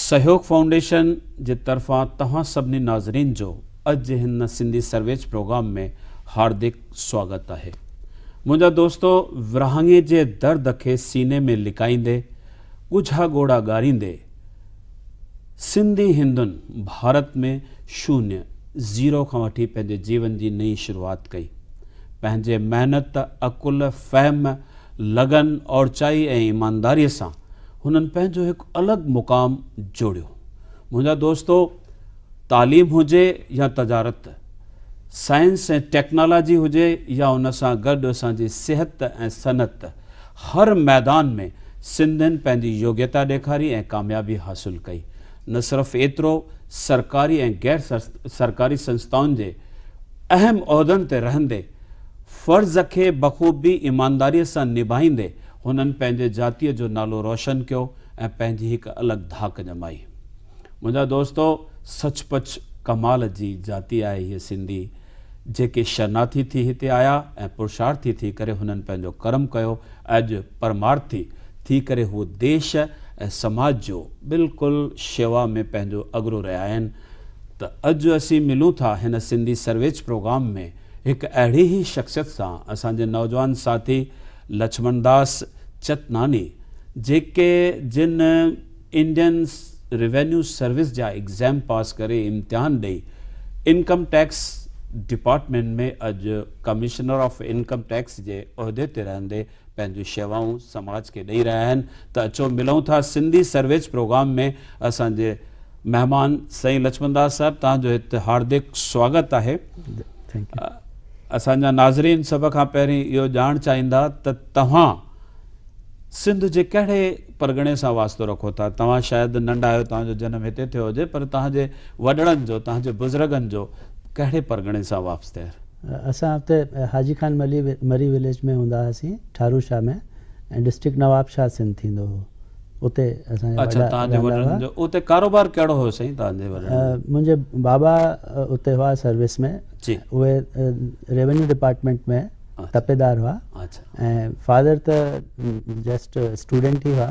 سهيوگ foundation جي طرفان توهان سڀني ناظرين جو اڄ هن سنڌي سرويچ پروگرام ۾ هاردڪ سواگت آهي منهنجا دوستو ورهاڱي جي درد کي سيني ۾ لڪائيندي ڳجها ڳوڙها ڳاريندي سنڌي هندن ڀارت ۾ شونيه زيرو کان وٺي پنهنجي جيون جي نئين شروعات ڪئي پنهنجي محنت عقل فهم لگن، اوچائي ۽ ايمانداريء سان هنن پنهنجو هڪ الڳ مقام جوڙيو. منهنجا دوستو! تعليم هجي يا تجارت، سائنس ۽ ٽيڪنالاجي هجي يا ان سان گڏ اسان جي صحت ۽ صنعت، هر ميدان ۾ سنڌين پنهنجي يوگيتا ڏيکاري ۽ ڪاميابي حاصل ڪئي. نه صرف ايترو، سرڪاري ۽ غير سرڪاري سنسٿائن جي. اهم عهدن تي رهندي، فرض کي بخوبي ايمانداريء سان نڀائيندي هنن پنهنجي جاتيء جو نالو روشن ڪيو ۽ پنهنجي هڪ الڳ ڌاڪ ڄمائي. منهنجا دوستو! سچ پچ ڪمال جي جاتي آهي هيء سنڌي، جيڪي شرناٿي ٿي هتي آيا ۽ پرشارٿي ٿي ڪري هنن پنهنجو ڪرم ڪيو ۽ اڄ پرمارٿي ٿي ڪري هو ديش ۽ سماج جو بلڪل شيوا ۾ پنهنجو اڳرو رهيا آهن، ته اڄ اسين ملون ٿا هن سنڌي سرويچ پروگرام ۾ هڪ اهڙي ئي شخصيت سان اسان جي نوجوان ساٿي لڇمڻ داس چتناني جيڪي جن انڊين روينيو سروس جا ايگزام پاس ڪري امتحان ڏئي انڪم ٽيڪس ڊپارٽمينٽ ۾ اڄ ڪمشنر آف انڪم ٽيڪس جي عهدي تي رهندي پنهنجون شيوائون سماج کي ڏئي رهيا آهن ته اچو ملون ٿا سنڌي سرويچ پروگرام ۾ اسان جي مهمان سائين لڇمن داس صاحب توهان جو هت هاردڪ سواگت آهي اسان جا ناظرين سڀ کان پهرين اهو ڄاڻ چاهيندا ته توهان سنڌ جي ڪهڙي پرڳڻي سان واسطو رکو ٿا توهان شايد ننڍا آهيو توهان جو جنم هتي ٿيو هجي پر توهان جي وڏڙن جو توهان جي بزرگن جو ڪهڙي پرڳڻي سان واسطه اسان اتي حاجي خان مري وليج ۾ هوندا هئاسين ٺارو شاهه ۾ ۽ ڊسٽرڪٽ نواب شاهه سنڌ ٿيندو هو اتي اسان جا وڏا رهندا هئا. اتي ڪاروبار ڪهڙو هيو سائين توهان جي وڏن جو؟ منهنجا بابا اتي هئا سروس ۾ اهي ريونيو ڊپارٽمينٽ ۾ تپيدار هئا ۽ فادر ته جسٽ اسٽوڊنٽ ئي هئا.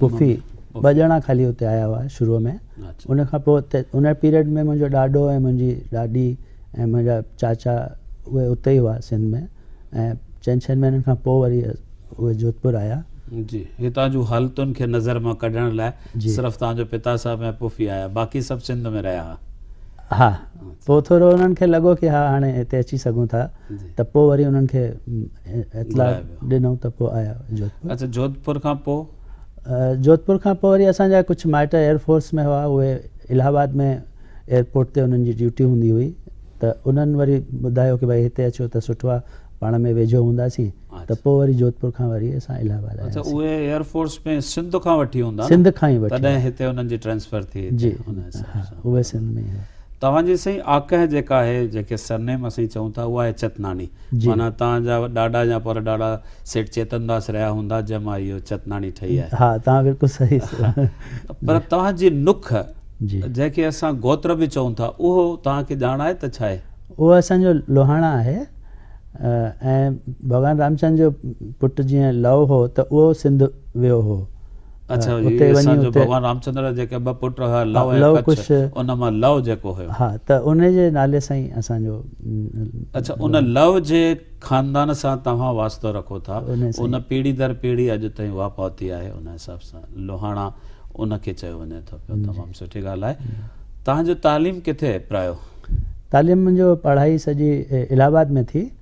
پڦي ٻه ڄڻا خالي اتي آيا هئا شروع ۾ ان کان پوء اتي ان پيريڊ ۾ منهنجو ڏاڏو ۽ منهنجي ڏاڏي ۽ منهنجا چاچا اهي اتي ئي هئا سنڌ ۾ ۽ چئن ڇهن مهينن کان پوء وري اهي جوڌپور آيا جي هتان جون حالتن کي نظر مان ڪڍڻ لاء صرف تان جو پتا صاحب ۽ پڦي آيا باقي سڀ سنڌ ۾ رهيا هئا ها پوء ٿورو انهن کي لڳو ڪي ها هاڻي هتي اچي سگهون ٿا ته پوء وري انهن کي اطلاع ڏنو ته پوء آيا جوڌپور. اچا جوڌپور کان پوء؟ جوڌپور کان پوء وري اسان جا ڪجهه مائٽ ايئر فورس ۾ هئا اهي الهه آباد ۾ ايئرپورٽ تي انهن جي ڊيوٽي هوندي هئي ته انهن وري ٻڌايو ڪي ڀائي هتي اچو ته سٺو آ پاڻ ۾ ويجهو هونداسين ته پوء وري جوڌپور کان وري اسان الهه آباد آياسين. اچا اهي ايئر فورس ۾ سنڌ کان وٺي هوندا نه؟ سنڌ کان ئي وٺي. تڏهن هتي انهن جي ٽرانسفر ٿي هتي ان حساب سان. جي ها اهي سنڌ ۾ ئي هئا. توهان جي سائين آڪهه جيڪا آهي جنهن کي سرنيم اسين چئون ٿا اها آهي چتناڻي. معنيٰ تان جا ڏاڏا يا پر ڏاڏا سيٺ چيتن داس رهيا هوندا جنهن مان اهو چتناڻي ٺهي آهي. ها توهان بلڪل صحيح پر توهان جي نک جنهن کي اسان گوتر به چئون ٿا اهو توهان کي ڄاڻ آهي ته ڇاهي؟ اهو اسان جو لوهاڻا آهي ۽ ڀڳوان رامچند جو پٽ جيئن لئو هو ته اهو سنڌ ويو هو. اڇا جي اتي وڃي جو ڀڳوان رامچندر جا جيڪي ٻه پٽ هئا لئو ۽ ڪڇ ان مان لئو جيڪو هيو ها ته ان جي نالي سان ئي اسان جو اڇا ان لئو جي خاندان سان توهان واسطو رکو ٿا ان پيڙهي در پيڙهي اڄ تائين اها پهتي آهي ان حساب سان لوهاڻا ان کي چيو وڃي ٿو پيو تمام سٺي ڳالهه آهي توهان جو تعليم ڪٿي پرايو تعليم جو پڙهائي سڄي الهه آباد ۾ ٿي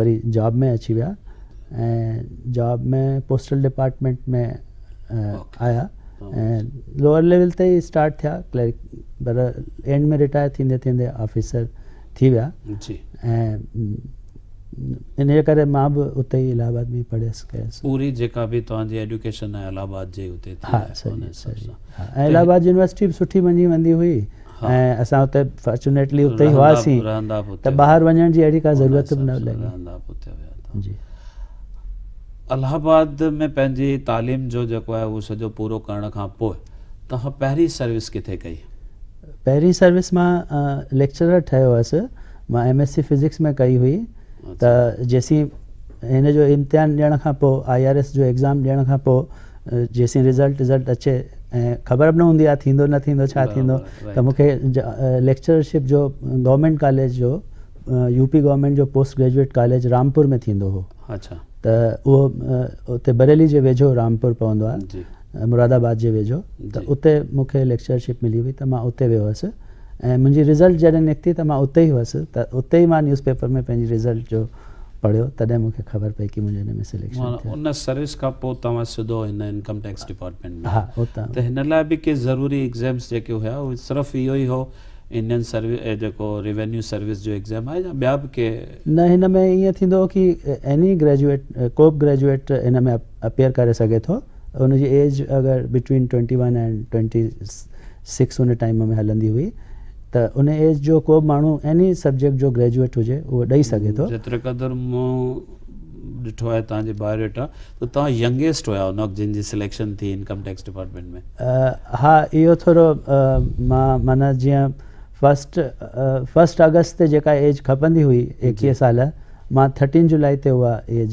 وري جاب ۾ اچي ويا ۽ جاب ۾ پوسٽل ڊپارٽمنٽ ۾ آيا ۽ لوئر ليول تي ئي اسٽارٽ ٿيا ڪلرڪ پر اينڊ ۾ رٽائر ٿيندي ٿيندي آفيسر ٿي ويا جي ۽ ان ڪري مان به اتي ئي الہ آباد ۾ پڙهيس ڪيس پوري جيڪا به توهان جي ايڊيوڪيشن آهي الہ آباد جي اتي ٿي ها سڄي سڄي الہ آباد يونيورسٽي به سٺي مڃي ويندي هئي ۽ اسان اتي فارچونيٽلي اتي ئي هئاسين ته ٻاهر وڃڻ جي اهڙي ڪا ضرورت به نه لڳي جي الہ آباد ۾ پنهنجي تعليم جو جيڪو آهي اهو سڄو پورو ڪرڻ کان پوء توهان پهرين سروس ڪٿي ڪئي پهرين سروس مان ليڪچرر ٺهيو هوس مان ايم ايس سي فزڪس ۾ ڪئي هئي ته جيسين هن جو امتحان ڏيڻ کان پوء آء آر ايس جو ايگزام ڏيڻ کان پوء جيسين رزلٽ رزلٽ اچي ۽ خبر به نه هوندي آهي ٿيندو نه ٿيندو ڇا ٿيندو ته مون کي ليڪچرشپ جو گورنمينٽ ڪاليج جو يو پي گورنمينٽ جو پوسٽ گريجويٽ ڪاليج رامپور ۾ ٿيندو هو اچھا ته اهو اتي بريلي جي ويجھو رامپور پوندو آهي مراد آباد جي ويجھو ته اتي مون کي ليڪچرشپ ملي هئي ته مان اتي ويو هوس ۽ منهنجي رزلٽ جڏهن نڪتي ته مان اتي ئي هوس ته اتي ئي مان نيوز پيپر ۾ پنهنجي رزلٽ جو پڙهيو تڏهن مون کي خبر پئي ڪي منهنجو ان ۾ سليڪشن ٿيو. ان سروس کان پوء توهان سڌو هن انڪم ٽيڪس ڊپارٽمينٽ ۾ آيا ته هن لاء به ڪي ضروري ايگزيمز جيڪي هيا اهي صرف اهو ئي هو انڊين سروس جيڪو ريونيو سروس جو ايگزيم آهي يا ٻيا به ڪي. نه هن ۾ ائين ٿيندو هو ڪي ايني گريجوئيٽ ڪو به گريجوئيٽ هن ۾ اپيئر ڪري سگهي ٿو ان جي ايج اگر between twenty one and twenty six ان ٽائيم ۾ هلندي هئي ته ان ايج جو ڪو به ماڻهو ايني سبجيڪٽ جو گريجوئيٽ هجي اهو ڏئي سگهي ٿو. جيتري قدر مون ڏٺو آهي تنهنجي بايوڊيٽا ته توهان ينگيسٽ هيا ان وقت جن جي سليڪشن ٿي انڪم ٽيڪس ڊپارٽمينٽ ۾. ها اهو ٿورو مان معنيٰ جيئن فرسٽ فرسٽ آگسٽ تي جيڪا ايج کپندي هئي ايڪيهه سال مان ٿرٽين جولاء تي اها ايج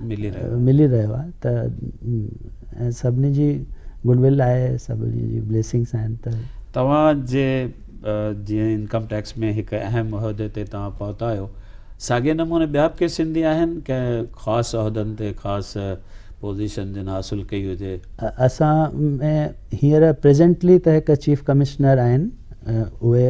ملي رهيو آهي ته ۽ سڀني جي گڊ ول آهي سڀني جي بليسنگس آهن ته توهان جي جيئن انڪم ٽيڪس ۾ هڪ اهم عهدي تي توهان پهتا آهيو ساڳي نموني ٻيا به ڪي سنڌي آهن ڪنهن خاص عهدن تي خاص پوزيشن جن حاصل ڪئي هجي اسان ۾ هينئر پريزنٽلي ته هڪ چيف ڪمشنر آهن اهي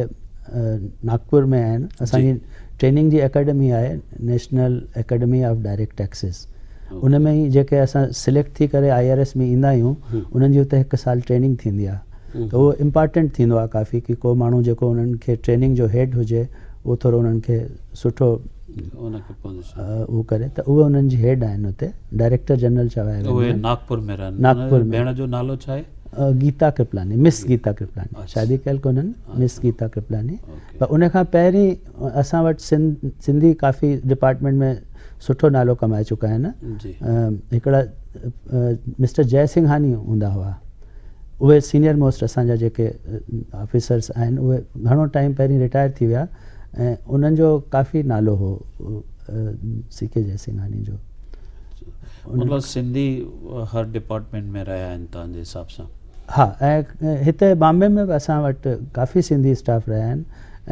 ناگپور ۾ آهن اسان جي ٽريننگ جي اڪيڊمي آهي national academy of direct taxes ان ۾ ئي جيڪي اسان سليڪٽ ٿي ڪري آئي آر ايس ۾ ايندا آهيون انهن جي اتي هڪ سال ٽريننگ ٿيندي آهي ته اهو امپارٽنٽ ٿيندو آهي ڪافي ڪي ڪو ماڻهو جيڪو انهن کي ٽريننگ جو هيڊ هجي اهو ٿورو انهن کي سٺو اهو ڪري ته اهي انهن جي هيڊ آهن اتي ڊائريڪٽر جنرل چوايا ويندا آهن اهي ناگپور ۾ رهن ناگپور ۾ ڀيڻ جو نالو ڇا آهي گيتا ڪرپلاني مس گيتا ڪرپلاني شادي ڪيل ڪونهن مس گيتا ڪرپلاني پر ان کان پهرين اسان وٽ سنڌي ڪافي ڊپارٽمينٽ ۾ سٺو نالو ڪمائي چڪا آهن هڪڙا مسٽر جئي سنگهاني هوندا هئا اهي سينيئر موسٽ اسان جا جيڪي آفيسرس آهن اهي گهڻو ٽائيم پهرين رٽائر ٿي ويا ۽ انهن جو ڪافي نالو هو سی ڪي جئي سنگهاني جو مطلب سنڌي هر ڊپارٽمينٽ ۾ رهيا آهن تنهنجي حساب سان ها ۽ هتي بامبي ۾ به اسان وٽ ڪافي سنڌي اسٽاف رهيا آهن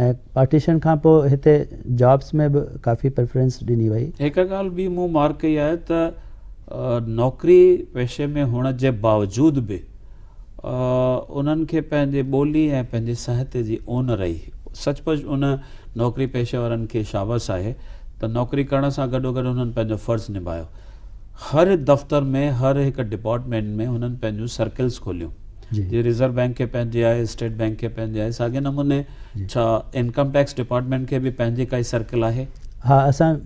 ۽ پارٽيشن کان پوء هتي جابس ۾ به ڪافي پريفرنس ڏني وئي. هڪ ڳالهه ٻي مون مارڪ ڪئي آهي ته نوڪري پيشي ۾ هئڻ جي باوجود به انهن کي پنهنجي ٻولي ۽ پنهنجي سهتي جي اون رهي. سچ پچ ان نوڪري پيشه وارن کي شابس آهي ته نوڪري ڪرڻ سان گڏوگڏ هنن پنهنجو فرض نڀايو. هر دفتر ۾ هر هڪ ڊپارٽمينٽ ۾ هنن پنهنجون سرڪلز کوليون جي ريزرو بينڪ کي پنهنجي آهي اسٽيٽ بينڪ کي پنهنجي آهي ساڳي نموني ڇا انڪم ٽيڪس ڊپارٽمينٽ کي به پنهنجي ڪائي سرڪل آهي ها اسان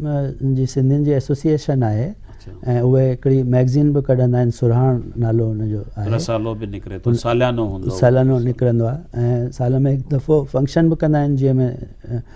جي سنڌين جي ايسوسيئيشن آهي ۽ اهي هڪڙي ميگزين به ڪڍندا آهن سرهاڻ نالو ان جو آهي رسالو به نڪري ٿو ساليانو هوندو ساليانو نڪرندو آهي ۽ سال ۾ هڪ دفعو فنڪشن به ڪندا آهن جنهن ۾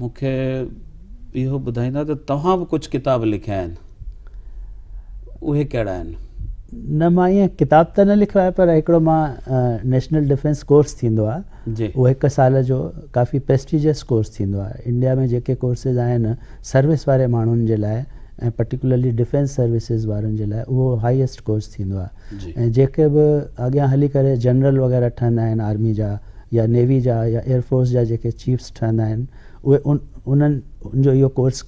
مون کي اهو ٻڌائيندا ته توهان به ڪجهه ڪتاب لکيا آهن اهي ڪهڙا آهن؟ نه مان ايئن ڪتاب ته نه لکيو آهي پر هڪڙو مان نيشنل ڊفينس ڪورس ٿيندو آهي اهو هڪ سال جو ڪافي پريسٽيجيس ڪورس ٿيندو آهي انڊيا ۾ جيڪي ڪورسز آهن سروس واري ماڻهن جي لاء ۽ پرٽيڪولرلي ڊفينس سروسز وارن جي لاء اهو هائيسٽ ڪورس ٿيندو آهي ۽ جيڪي به اڳيان هلي ڪري جنرل وغيره ٺهندا آهن آرمي جا يا نيوي جا يا ايئر فورس جا جيڪي چيفس ٺهندا آهن اهي انهن ان جو اهو ڪورس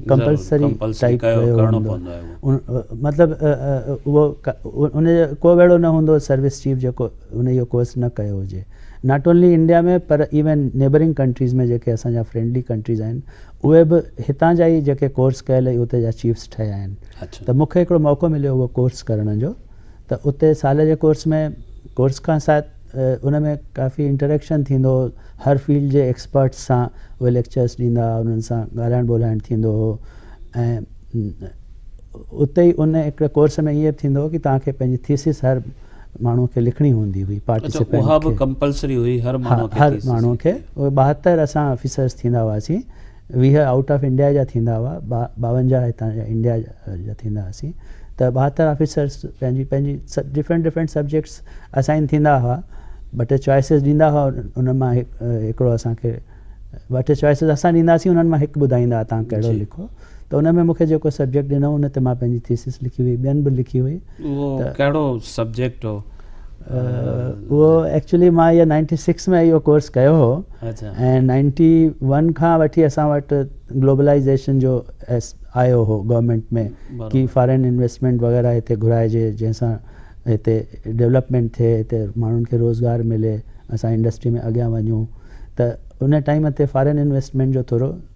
ڪمپلسري ٽائيپ ڪيو هوندو مطلب اهو ان جو ڪو به اهڙو نه هوندو سروس چيف جيڪو ان اهو ڪورس نه ڪيو هجي ناٽ اونلي انڊيا ۾ پر ايون نيبرنگ ڪنٽريز ۾ جيڪي اسان جا فرينڊلي ڪنٽريز آهن اهي به هتان جا ئي جيڪي ڪورس ڪيل اهي اتي جا چيفس ٺهيا آهن ته مون کي هڪڙو موقعو مليو اهو ڪورس ڪرڻ جو ته اتي سال جي ڪورس ۾ ڪورس کان سات ان ۾ ڪافي انٽريڪشن ٿيندو هو هر فيلڊ جي ايڪسپرٽس سان اهي ليڪچرس ڏيندا هئا انهن سان ڳالهائڻ ٻولهائڻ ٿيندو هو ۽ اتي ئي ان هڪڙي ڪورس ۾ ائين ٿيندو هو ڪي توهان کي پنهنجي ٿيسز هر ماڻهو کي لکڻي هوندي هئي پارٽيسپينٽ کي اها به ڪمپلسري هئي هر ماڻهو کي هر ماڻهو کي اهي ٻاهتر اسان آفيسرس ٿيندا هئاسين ويهه آئوٽ آف انڊيا جا ٿيندا هئا، ٻاونجاهه هتان جا انڊيا جا ٿيندا هئاسين ته ٻاهتر آفيسرس پنهنجي پنهنجي ڊفرنٽ ڊفرنٽ سبجيڪٽس اسائين ٿيندا هئا ٻه ٽي چوائسز ڏيندا هئا انهن مان هڪڙو اسان کي ٻه ٽي چوائسز اسان ڏينداسين انهن مان هڪ ٻڌائيندا هئا تان ڪهڙو لکو ته ان ۾ مونکي جيڪو سبجيڪٽ ڏنو ان تي مان پنهنجي ٿيسز لکي هئي ٻين به لکي هئي ته اهو ڪهڙو سبجيڪٽ هو؟ اهو ايڪچولي مان اهو نائنٽي سڪس ۾ اهو ڪورس ڪيو هو ۽ نائنٽي ون کان وٺي اسان وٽ گلوبلائزيشن جو آيو هو گورنمنٽ ۾ ڪي فارن انويسٽمنٽ وغيرہ هتي گهرائجي جنهن سان هتي ڊيولپمنٽ ٿئي هتي ماڻهن کي روزگار ملي اسان انڊسٽري ۾ اڳيان وڃون ته ان ٽائيم تي فارن انويسٽمنٽ جو ٿورو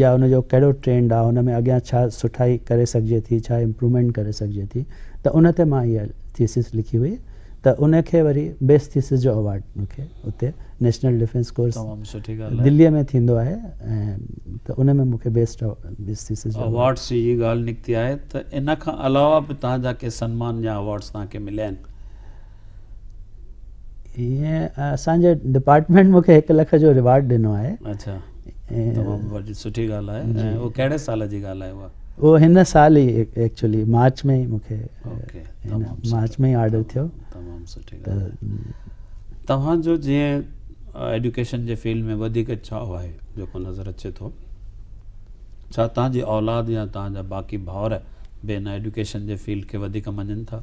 يا ان جو ڪهڙو ٽرينڊ آ ان ۾ اڳيان ڇا سٺائي ڪري سگهجي ٿي ڇا امپرومينٽ ڪري سگهجي ٿي ته ان تي مان اها ٿيسز لکي هئي ته ان کي وري بيسٽ ٿيسز جو اوارڊ مون کي اتي نيشنل ڊفينس ڪورس دلي ۾ ٿيندو آهي ته ان ۾ مون کي بيسٽ بيسٽ ٿيسز جو اوارڊس جي ڳالهه نڪتي آهي ته ان کان علاوه به تنهنجا ڪي سنمان يا اوارڊس تنهن کي مليا آهن ائين اسان جي ڊپارٽمينٽ مون کي هڪ لک جو ريوارڊ ڏنو آهي اچھا تمام وڏي سٺي ڳالهه آهي جي. ۽ اهو ڪهڙي سال جي ڳالهه آهي اها اهو هن سال ئي ايڪچولي مارچ ۾ ئي مون کي مارچ ۾ ئي آرڊر ٿيو تمام سٺي ڳالهه توهان جو جيئن ايڊيوڪيشن جي فيلڊ ۾ وڌيڪ چاهه آهي جيڪو نظر اچي ٿو ڇا توهان جي اولاد يا توهان جا باقي ڀائر به ان ايڊيوڪيشن جي فيلڊ کي وڌيڪ مڃين ٿا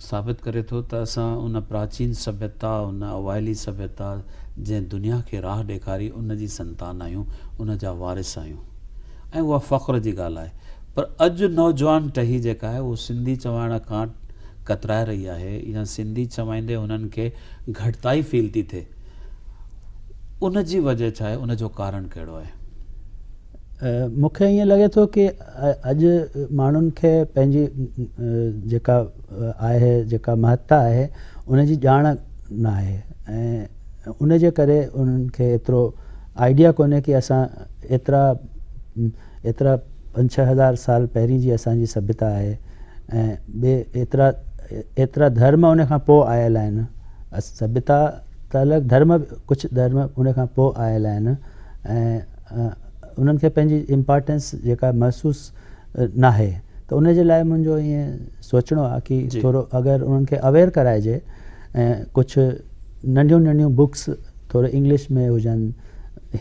ثابت ڪري ٿو ته اسان ان پراچين سڀيتا، ان اوائلي سڀيتا جنهن دنيا کي راهه ڏيکاري ان جي سنتان آهيون، ان جا وارث آهيون ۽ اها فخر جي ڳالهه آهي پر اڄ نوجوان ٽهي جيڪا آهي اهو سنڌي چوائڻ کان ڪترائي رهي آهي يا سنڌي چوائيندي هنن کي گهٽتائي فيل ٿي ٿئي ان جي وجه ڇا آهي ان جو ڪارڻ ڪهڙو آهي؟ مون کي ائين لڳي ٿو ڪي اڄ ماڻهن کي پنهنجي جيڪا آهي جيڪا مهتا آهي ان جي ڄاڻ نه آهي ۽ ان جي ڪري انهن کي ايترو آئيڊيا ڪونهي ڪي اسان ايترا ايترا پنج ڇهه هزار سال پهرين جي اسانجي سڀيتا آهي ۽ ٻي ايترا ايترا ڌرم ان کان پوء آيل آهن سڀيتا ته الڳ ڌرم ڪجهه ڌرم ان کان پوء آيل آهن ۽ انهن کي پنهنجي امپارٽنس جيڪا محسوس ناهي ته ان جي لاء منهنجو ائين سوچڻو آهي ڪي ٿورو اگر انهن کي اويئر ڪرائجي ۽ ڪجهه ننڍيون ننڍيون بڪس ٿوري انگلش ۾ هجن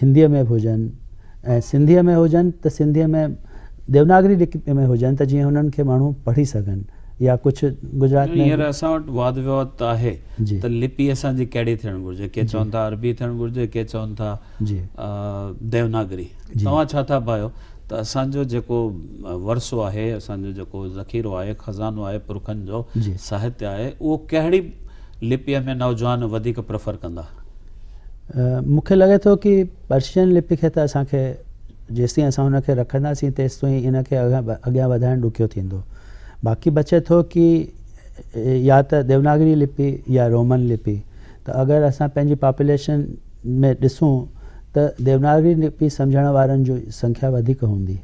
هنديء ۾ به هجن ۽ سنڌيء ۾ هجن ته سنڌيء ۾ ديوناگري لکت ۾ هجن ته جيئن انهن کي ماڻهو پڙهي سگهن يا ڪجهه گجرات ۾ هينئر اسان وٽ واد ويواد ته آهي ته لپي اسان جي ڪهڙي ٿيڻ گهرجي ڪي چون ٿا عربي ٿيڻ گهرجي ڪي چون ٿا جي ديوناگري توهان ڇا ٿا ڀايو ته اسان جو جيڪو ورثو آهي اسان جو جيڪو ذخيرو آهي خزانو آهي پرکن جو ساهتيه آهي اهو ڪهڙي لپيء ۾ نوجوان وڌيڪ پريفر ڪندا مون کي لڳي ٿو ڪي پرشين لپي کي ته اسان کي جيستائين اسان ان کي رکنداسين تيستائين ان کي اڳيان وڌائڻ ڏکيو ٿيندو باقي بچي ٿو ڪي يا ته ديوناگري لپي يا رومن لپي ته اگر اسان پنهنجي پاپوليشن ۾ ڏسون ته ديوناگري لپي سمجهڻ وارن جي سنکيا وڌيڪ هوندي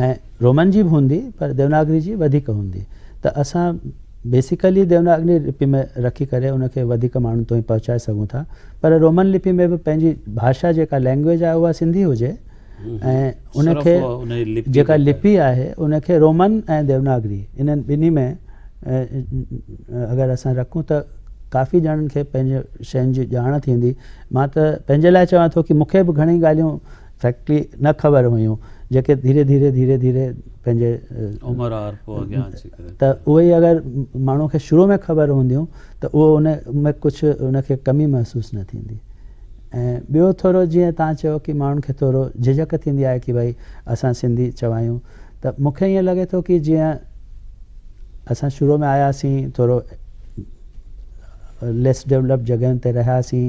۽ رومن جي به هوندي پر ديوناگري جي وڌيڪ هوندي ته اسان بيسيڪلي ديوناگري لپي ۾ رکي ڪري ان کي وڌيڪ ماڻهن تائين پهچائي سگهون ٿا پر رومن لپي ۾ به پنهنجي ڀاشا جيڪا لينگويج آهي اها سنڌي هجي ۽ ان کي جيڪا لپي آهي ان کي رومن ۽ ديوناگري انهن ٻنهي ۾ اگر اسان رکون ته ڪافي ڄڻن کي پنهنجي شين جي ڄاڻ ٿيندي مان ته پنهنجي لاء چوان ٿو ڪي مون کي به گهڻي ڳالهيون فيڪٽري نه خبر هيون جيڪي ڌيري ڌيري ڌيري ڌيري پنهنجي عمر آر پو اڳيان اچي ڪري ته اهو ئي اگر ماڻهو کي شروع ۾ خبر هونديون ته اهو ان ۾ ڪجهه ان کي ڪمي محسوس نه ٿيندي ۽ ٻيو ٿورو جيئن توهان چيو ڪي ماڻهن کي ٿورو جھجھڪ ٿيندي آهي ڪي ڀائي اسان سنڌي چوايون ته مون کي ائين لڳي ٿو ڪي جيئن اسان شروع ۾ آياسين ٿورو ليس ڊيولپڊ جڳهين تي رهياسين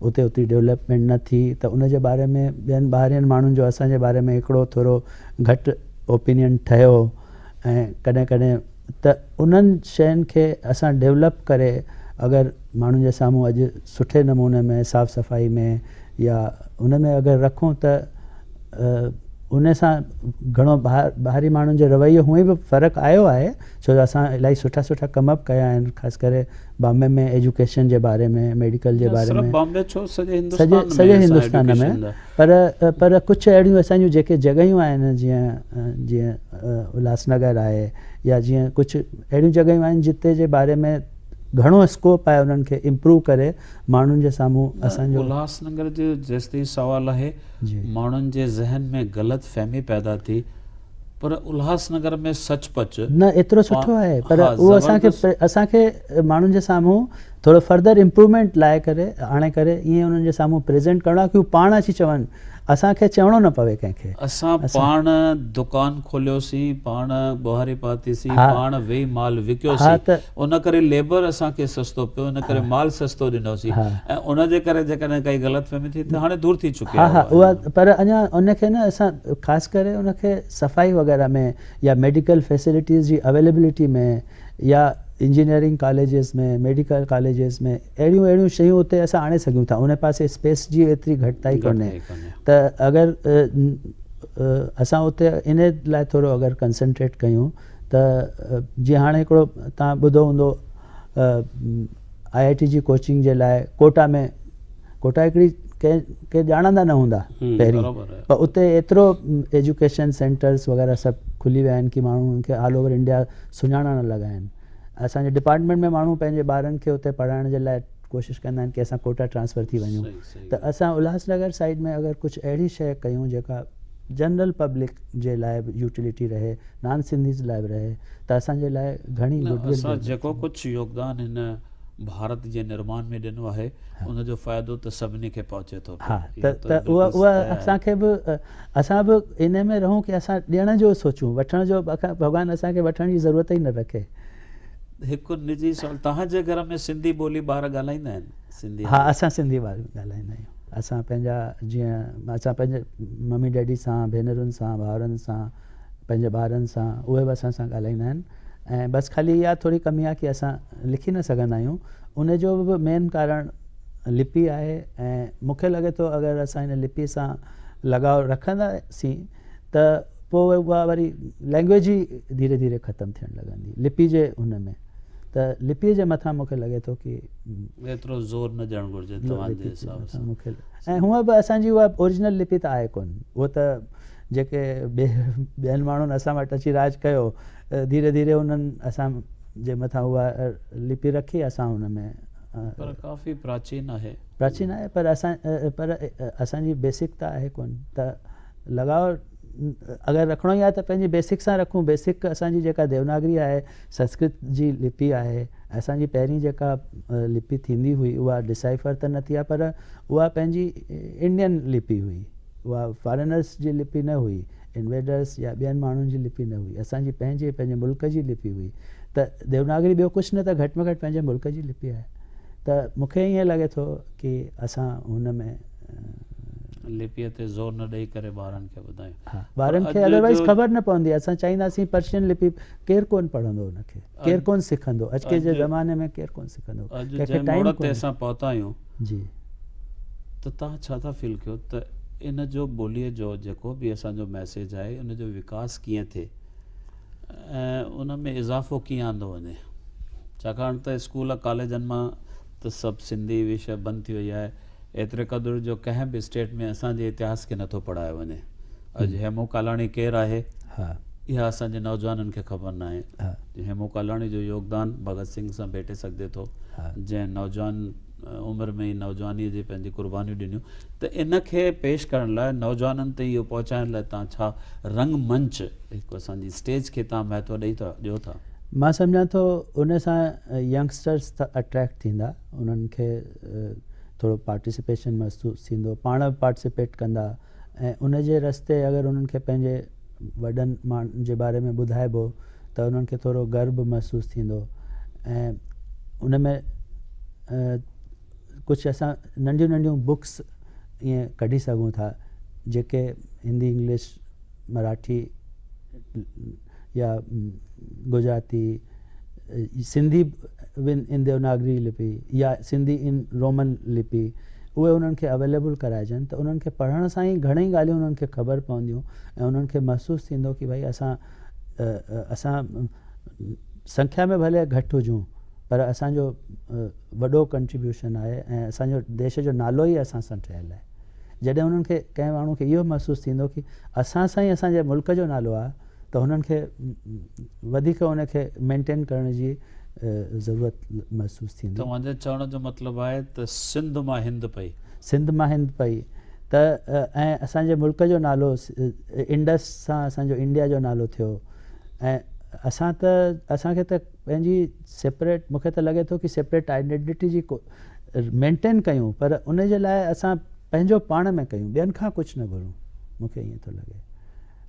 اتي اتي ڊيولپمينٽ نه ٿي ته ان جي باري ۾ ٻين ٻاهرين ماڻهن جو اسان جي باري ۾ هڪڙو ٿورو گھٽ اوپينين ٺهيو ۽ ڪڏهن ڪڏهن ته انهن شين کي اسان ڊيولپ ڪري اگر ماڻهن جي سامهون اڄ سٺي نموني ۾ صاف صفائي ۾ يا ان ۾ اگر رکون ته ان سان گهڻو ٻاهري ماڻهن جو رويو هونئن به فرق آيو آهي ڇو جو اسان الائي سٺا سٺا ڪم به ڪيا آهن خاص ڪري بامبي ۾ ايجوڪيشن جي باري ۾ ميڊيڪل جي باري ۾ سڄي هندستان ۾ پر پر ڪجهه اهڙيون اسان جون جيڪي جڳهيون آهن جيئن جيئن الهاس نگر آهي يا جيئن ڪجهه اهڙيون جڳهيون آهن جتي جي باري ۾ گهڻو اسڪوپ آهي انهن کي امپروو ڪري ماڻهن جي سامهون اسان جو الهاس نگر جو جيستائين سوال آهي ماڻهن جي ذهن ۾ غلط فهمي پيدا ٿي پر الهاس نگر ۾ سچ پچ نه ايترو سٺو آهي پر اهو اسان کي اسان کي ماڻهن جي سامهون ٿورو فردر امپرومينٽ لاء ڪري آڻي ڪري ائين انهن جي سامهون پريزينٽ ڪرڻو آهي ڪي هو پاڻ اچي چون اسان کي چوڻو نه پوي ڪنهن کي. اسان پاڻ دڪان کوليوسين پاڻ ٻهاري پاتيسين پاڻ ويهي مال وڪيوسين ان ڪري ليبر اسان کي سستو پيو ان ڪري مال سستو ڏنوسين ۽ ان جي ڪري جيڪڏهن ڪائي غلط فهمي ٿي ته هاڻي دور ٿي چڪي آهي اها پر اڃا ان کي نه اسان خاص ڪري ان کي صفائي وغيره ۾ يا ميڊيڪل فيسلٽيز جي اويليبلٽي ۾ يا انجنيئرنگ ڪاليجز ۾ ميڊيڪل ڪاليجز ۾ اهڙيون اهڙيون شيون اتي اسان آڻي سگهيون ٿا ان پاسي اسپيس جي ايتري گهٽتائي ڪونهي ته اگر اسان اتي ان لاء ٿورو اگر ڪنسنٽريٽ ڪيون ته جي هاڻي هڪڙو تان ٻڌو هوندو آء آء ٽي جي ڪوچنگ جي لاء ڪوٽا ۾ ڪوٽائڪڙي ڪنهن ڪي ڄاڻندا نه هوندا پهرين پر اتي ايترو ايجوڪيشن سينٽرز وغيره سڀ کلي ويا آهن ڪي ماڻهو ان کي آل اوور انڊيا سڃاڻڻ لڳا آهن اسان جي ڊپارٽمينٽ ۾ ماڻهو پنهنجي ٻارن کي اتي پڙهائڻ جي لاء ڪوشش ڪندا آهن ڪي اسان ڪوٽا ٽرانسفر ٿي وڃون ته اسان الهاس نگر سائيڊ ۾ اگر ڪجهه اهڙي شيء ڪيون جيڪا جنرل پبلڪ جي لاء به يوٽيلٽي رهي نان سنڌيز لاء به رهي ته اسان جي لاء گهڻي گڊ ول جيڪو ڪجهه يوگدان هن ڀارت جي نرمان ۾ ڏنو آهي ان جو فائدو ته سڀني کي پهچي ٿو پيو اها ته اها اسان کي به اسان به ان ۾ رهون ڪي اسان ڏيڻ جو سوچون وٺڻ جو ڀڳوان اسان کي وٺڻ جي ضرورت ئي نه رکي هڪ نجي سوال توهان جي گهر ۾ سنڌي ٻولي ٻار ڳالهائيندا آهن سنڌي ها اسان سنڌي ٻار ڳالهائيندا آهيون اسان پنهنجا جيئن اسان پنهنجي ممي ڊيڊي سان ڀينرن سان ڀائرن سان پنهنجي ٻارن سان اهي به اسان سان ڳالهائيندا آهن ۽ بس خالي اها ٿوري ڪمي آهي ڪي اسان لکي نه سگهندا آهيون ان جو به مين ڪارڻ لپي آهي ۽ مونکي لڳي ٿو اگر اسان ان لپي سان لڳاء رکندا سين ته پوء اها وري لينگويج ئي ڌيري ڌيري ختم ٿيڻ لڳندي لپي جي ان ۾ ته لپي جي مٿان مونکي لڳي ٿو ڪي ايترو زور نه ڏيڻ گهرجي توهان جي حساب سان ۽ هونء به اسان جي اها اوريجنل لپي ته آهي ڪون اهو ته جيڪي ٻين ماڻهن اسان وٽ اچي راڄ ڪيو، ڌيري ڌيري انهن اسان جي مٿان اها لپي رکي، اسان ان ۾. پر ڪافي پراچين آهي. پراچين آهي پر اسان پر اسان جي بيسڪ ته آهي ڪونه ته لڳاء اگر رکڻو ئي آهي ته پنهنجي بيسڪ سان رکون، بيسڪ اسان جي جيڪا ديوناگري آهي، سنسڪرت جي لپي آهي، اسان جي پهرين جيڪا لپي ٿيندي هئي اها ڊسائفر ته نه ٿي آهي پر اها پنهنجي انڊين لپي هئي. اها فارينرس جي لپي نه هئي، انويڊرس يا ٻين ماڻهن جي لپي نه هئي، اسان جي پنهنجي پنهنجي ملڪ جي لپي هئي ته ديوناگري ٻيو ڪجهه نه ته گهٽ ۾ گهٽ پنهنجي ملڪ جي لپي آهي ته مون کي ائين لڳي ٿو ڪي اسان هن ۾ لپيء تي زور نه ڏئي ڪري ٻارن کي ٻڌايون ها ٻارن کي اڌروائز خبر نه پوندي اسان چائينداسين پرشين لپي ڪير ڪون پڙهندو ان کي ڪير ڪون سکندو اڄ ڪي جي زماني ۾ ڪير ڪون سکندو اڄ جي ٽائيم تي اسان پهتا آهيون جي ته توهان ڇا ٿا فيل ڪيو ته ان جو ٻوليء جو جيڪو به اسان جو ميسيج آهي ان جو وڪاس ڪيئن ٿئي ۽ ان ۾ اضافو ڪيئن آندو وڃي ڇاڪاڻ ته اسڪول ڪاليجن مان ته سڀ سنڌي وشي بند ٿي وئي آهي ايتري قدر جو ڪنهن به اسٽيٽ ۾ اسان جي اتهاس کي نٿو پڙهايو وڃي اڄ هيمو ڪالاڻي ڪير آهي؟ اها اسان جي نوجوانن کي خبر ناهي ته هيمو ڪالاڻي جو يوگدان ڀڳت سنگهه سان ڀيٽي سگهجي ٿو جنهن نوجوان عمر ۾ ئي نوجوانيء جي پنهنجي قربانيون ڏنيون ته ان کي پيش ڪرڻ لاء نوجوانن تائين اهو پهچائڻ لاء تان ڇا رنگ منچ هڪ اسان جي اسٽيج کي تان مهتو ڏئي ٿا ڏيو ٿا؟ مان سمجهان ٿو ان سان ينگسٽرس اٽريڪٽ ٿيندا انهن کي ٿورو پارٽيسپيشن محسوس ٿيندو پاڻ پارٽيسپيٽ ڪندا ۽ ان جي رستي اگر انهن کي پنهنجي وڏن ماڻهن جي باري ۾ ٻڌائبو ته انهن کي ٿورو گر به محسوس ٿيندو ۽ ان ۾ ڪجهه اسان ننڍيون ننڍيون بڪس ائين ڪڍي سگهون ٿا جيڪي هندي انگلش مراٺي يا گجراتي، سنڌي ان ديوناگري لپي يا سنڌي ان رومن لپي اهي انهن کي اويليبل ڪرائجن ته انهن کي پڙهڻ سان ئي گهڻيئي ڳالهيون انهن کي خبر پونديون ۽ انهن کي محسوس ٿيندو ڪي ڀائي اسان اسان سنکيا ۾ ڀلي گهٽ هجون پر اسان جو وڏو ڪنٽريبيوشن آهي ۽ اسان جو ديش جو نالو ئي اسان سان ٺهيل آهي جڏهن انهن کي ڪنهن ماڻهو کي اهو محسوس ٿيندو ڪي اسان سان ئي اسان جي ملڪ جو نالو آهي ته هنن کي وڌيڪ ان کي مينٽين ڪرڻ جي ضرورت محسوس ٿيندي. توهان جي چوڻ جو مطلب آهي ته سنڌ مان هند پئي. سنڌ مان هند پئي ته ۽ اسان جي ملڪ جو نالو انڊس سان اسان جو انڊيا جو نالو ٿيو ۽ اسان ته اسان کي ته پنهنجي سيپريٽ مون کي ته لڳي ٿو ڪي سيپريٽ آئيڊينٽي جي ڪو مينٽين ڪيون پر ان جي لاء اسان پنهنجو پاڻ ۾ ڪيون ٻين کان ڪجهه نه گهرون مون کي ائين ٿو لڳي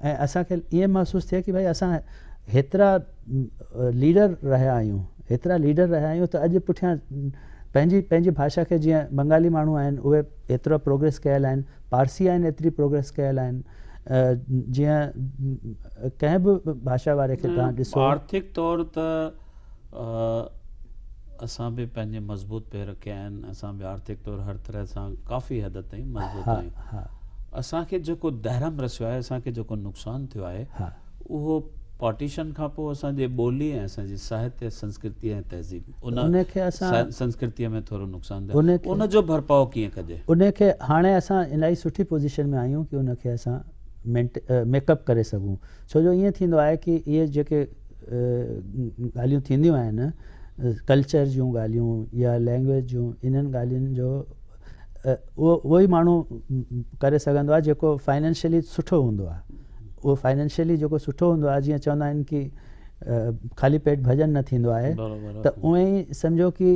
۽ اسان کي ائين محسوس ٿئي ڪي ڀاء اسان هيترا ليڊر رهيا آهيون هيترا ليڊر رهيا آهيون ته اڄ پٺيان پنهنجي پنهنجي ڀاشا کي جيئن بنگالي ماڻهو آهن اهي ايترا پروگريس ڪيل آهن پارسي آهن ايتري پروگريس ڪيل آهن جيئن ڪنهن به ڀاشا واري کي تان ڏسو آرٿڪ طور ته اسان به پنهنجي مضبوط پير رکيا آهن اسان به آرٿڪ طور هر طرح سان ڪافي حد تائين مضبوط آهيون اسان کي جيڪو درهم رسيو آهي اسان کي جيڪو نقصان ٿيو آهي اهو پارٽيشن کان پوء اسان جي ٻولي ۽ اسان جي ساهتي سنسڪرتي ۽ تهذيب ان کي اسان سنسڪرتي ۾ ٿورو نقصان ٿيو ان جو ڀرپاء ڪيئن ڪجي ان کي هاڻي اسان الائي سٺي پوزيشن ۾ آهيون ڪي ان کي اسان ميڪ اپ ڪري سگهون ڇو جو ائين ٿيندو آهي ڪي اهي جيڪي ڳالهيون ٿينديون آهن ڪلچر جون ڳالهيون يا لينگويج جون انهن ڳالهين جو اهو اهو ئي ماڻهو ڪري سگهندو آهي جيڪو فائنينشلي سٺو هوندو آهي اهو فائنينشلي جيڪو سٺو هوندو آهي جيئن چوندا آهن ڪي خالي پيٽ ڀڄن نه ٿيندو آهي ته اونئن ئي سمجهو ڪي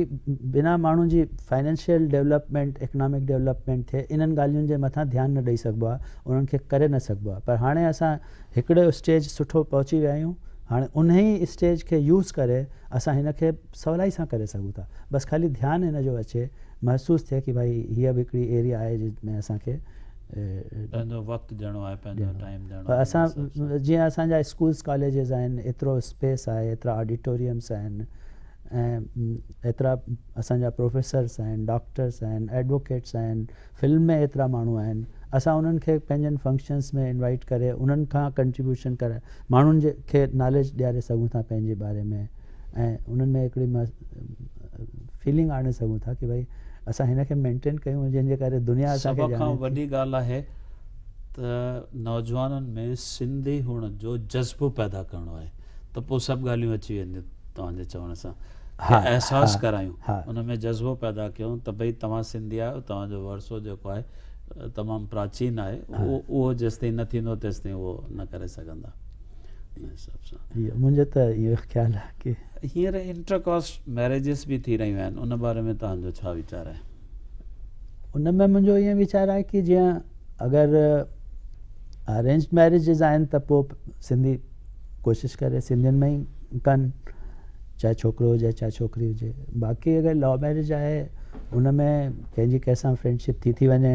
بنا ماڻهن جي فائنينشل ڊيولپمينٽ اڪنامڪ ڊيولپمينٽ ٿئي انهن ڳالهين جي مٿان ڌيان نه ڏئي سگهبو آهي انهن کي ڪري نه سگهبو آهي پر هاڻي اسان هڪڙو اسٽيج سٺو پهچي ويا آهيون هاڻي انهي ئي اسٽيج کي يوز ڪري اسان هن کي سولائي سان ڪري سگهون ٿا بس خالي ڌيان هن جو اچي محسوس ٿئي ڪي ڀائي هيء به هڪڙي ايريا آهي جنهن ۾ اسان کي پنهنجو وقت ڏيڻو آهي پنهنجو ٽائيم ڏيڻو آهي اسان جيئن اسان جا اسڪولز ڪاليجز آهن ايترو اسپيس آهي ايترا آڊيٽوريمس آهن ۽ ايترا اسان جا پروفيسرس آهن ڊاڪٽرس آهن ايڊووڪيٽس آهن فلم ۾ ايترا ماڻهو آهن اسان انهن کي پنهنجن فنڪشنس ۾ انوائيٽ ڪري انهن کان ڪنٽريبيوشن ڪرائي ماڻهن جي کي ناليج ڏياري سگهون ٿا پنهنجي باري ۾ ۽ انهن ۾ هڪڙي فيلنگ آڻي سگهون ٿا ڪي ڀائي اسان هن کي مينٽين ڪيون جنهن جي ڪري دنيا اسان کي سڀ کان وڏي ڳالهه آهي ته نوجوانن ۾ سنڌي هئڻ جو جذبو پيدا ڪرڻو آهي ته پوء سڀ ڳالهيون اچي وينديون توهان جي چوڻ سان احساس ڪرايون ان ۾ جذبو پيدا ڪيون ته ڀئي توهان سنڌي آهيو توهان جو ورثو جيڪو آهي تمام پراچين آهي اهو جيستائين نه ٿيندو تيستائين اهو نه ڪري سگهندا ان حساب سان منهنجو ته اهو خيال آهي ڪي هينئر انٽر ڪاسٽ ميريجز به ٿي رهيون آهن ان باري ۾ توهان جو ڇا ويچار آهي ان ۾ منهنجو ائين ويچار آهي ڪي جيئن اگر ارينج ميريجز آهن ته پوء سنڌي ڪوشش ڪري سنڌين ۾ ئي ڪن چاهي ڇوڪرو هجي چاهي ڇوڪري هجي باقي اگر لو ميريج آهي ان ۾ ڪنهنجي ڪنهن سان فرينڊشپ ٿي ٿي وڃي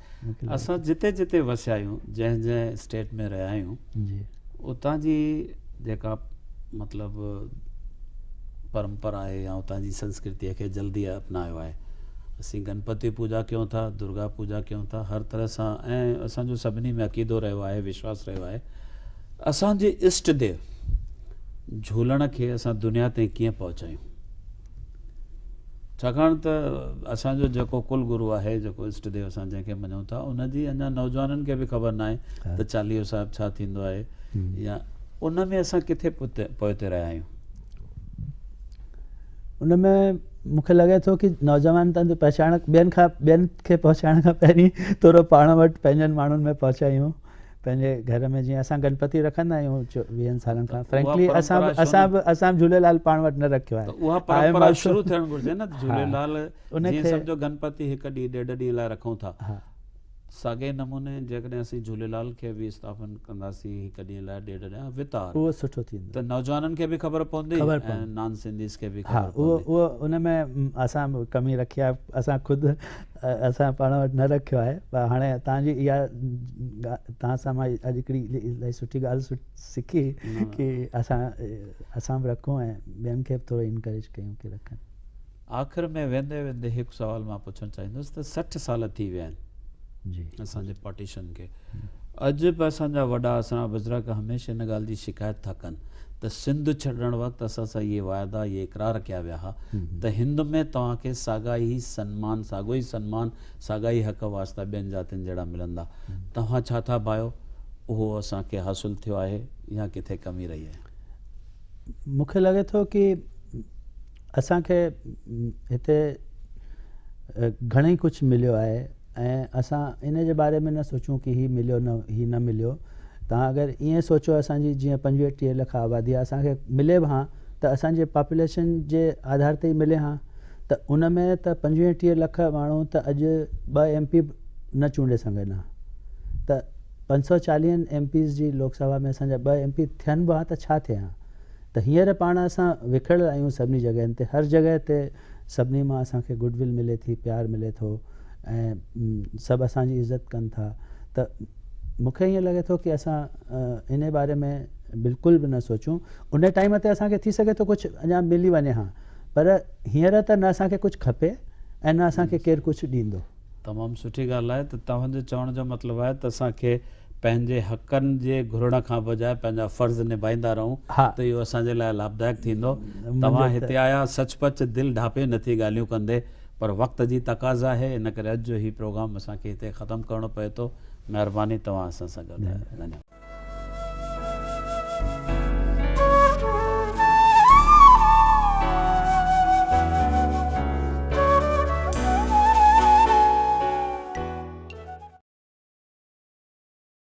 اسان جتي جتي وسيا آهيون جنهن جنهن اسٽيٽ ۾ رهيا آهيون اتان جي جيڪا مطلب پرمپرا آهي يا اتان جي سنسڪرتي کي جلدي اپنايو آهي اسين گنپتي پوجا ڪيون ٿا درگا پوجا ڪيون ٿا هر طرح سان ۽ اسانجو سڀني ۾ عقيدو رهيو آهي وشواس رهيو آهي اسانجي اشٽ ديو جھولڻ کي اسان دنيا تائين ڪيئن پهچايون ڇاڪاڻ ته اسان جو جيڪو ڪل گرو آهي، جيڪو اسٽ ديو اسان جنهن کي مڃون ٿا، ان جي اڃا نوجوانن کي به خبر ناهي ته چاليهو صاحب ڇا ٿيندو آهي يا ان ۾ اسان ڪٿي پوئتي رهيا آهيون. ان ۾ مون کي لڳي ٿو ڪي نوجوان تن پهچائڻ ٻين کان ٻين کي پهچائڻ کان پهرين تورو پاڻ وٽ پنهنجن ماڻهن ۾ پهچائيون پنهنجي گهر ۾ جيئن اسان گنپتي رکندا آهيون ويهن سالن کان فرينڪلي اسان اسان به اسان جهوليلال پاڻ وٽ نه رکيو آهي ته اها پرمپرا شروع ٿيڻ گهرجي نه جهوليلال جيئن سمجهو گنپتي هڪ ڏينهن ڏيڍ ڏينهن لاء رکون ٿا ساڳئي نموني جيڪڏهن اسين جهوليلال کي به استعافن ڪنداسين هڪ ڏينهن لاء ڏيڍ ڏينهن وتار اهو سٺو ٿيندو ته نوجوانن کي به خبر پوندي ۽ نان سنڌيز کي به خبر پوندي اهو ان ۾ اسان ڪمي رکي آهي اسان خود اسان پاڻ وٽ نه رکيو آهي پر هاڻي تان جي اها تان سان مان اڄ هڪڙي الاهي سٺي ڳالهه سکي ڪي اسان اسان به رکون ۽ ٻين کي به ٿورو انڪريج ڪيون ڪي رکن. آخر ۾ ويندي ويندي هڪ سوال مان پڇڻ چاهيندس ته سٺ سال ٿي ويا آهن اسان جي پارٽيشن کي اڄ به اسان جا وڏا اسان بزرگ هميشه ان ڳالهه جي شڪايت ٿا ڪن ته سنڌ ڇڏڻ وقت اسان سان اهي واعدا اهي اقرار ڪيا ويا ها ته هند ۾ توهان کي ساڳا ئي سنمان ساڳو ئي سنمان ساڳا ئي حق واسطا ٻين ذاتين جهڙا ملندا توهان ڇا ٿا ڀايو اهو اسان کي حاصل ٿيو آهي يا ڪٿي ڪمي رهي آهي مونکي لڳي ٿو ڪي اسان کي هتي گهڻي ڪجهه مليو آهي ۽ اسان ان جي باري ۾ نه سوچون ڪي هي مليو نه هي نه مليو توهان اگر ائين سوچو اسان جي جيئن پنجويهه ٽيهه لک آبادي آهي اسان کي ملي به هان ته اسان جي پاپوليشن جي آڌار تي ئي ملي هان ته ان ۾ ته پنجويهه ٽيهه لک ماڻهو ته اڄ ٻه ايم پي به نه چونڊي سگهن هان ته پنج سؤ چاليهن ايم پيز جي لوڪ سڀا ۾ اسان جا ٻه ايم پي ٿين به هان ته ڇا ٿئي هان ته هينئر پاڻ اسان وکڙيل آهيون سڀني جڳهين تي هر جڳهه تي سڀني مان اسان کي گڊ ول ملي ٿي پيار ملي ٿو ۽ سڀ اسان جي عزت ڪن ٿا ته مون کي ائين لڳي ٿو ڪي اسان ان باري ۾ بلڪل به نه سوچون ان ٽائيم تي اسان کي ٿي سگهي ٿو ڪجهه اڃا ملي وڃي ها پر هينئر ته نه اسان کي ڪجهه کپي ۽ نه اسان کي ڪير ڪجهه ڏيندو تمام سٺي ڳالهه آهي ته توهان جو چوڻ جو مطلب آهي ته اسان کي پنهنجي حقن جي گهرڻ کان بجاء پنهنجا فرض نڀائيندا رهون ته اهو اسان جي لاء لاڀدائڪ ٿيندو توهان هتي آيا سچ پچ دل ڍاپي نٿي ڳالهيون ڪندي پر وقت جي تقاضا آهي ان ڪري اڄ جو هي پروگرام اسان کي هتي ختم ڪرڻو پئي ٿو مهرباني توهان اسان سان گڏ آهيو.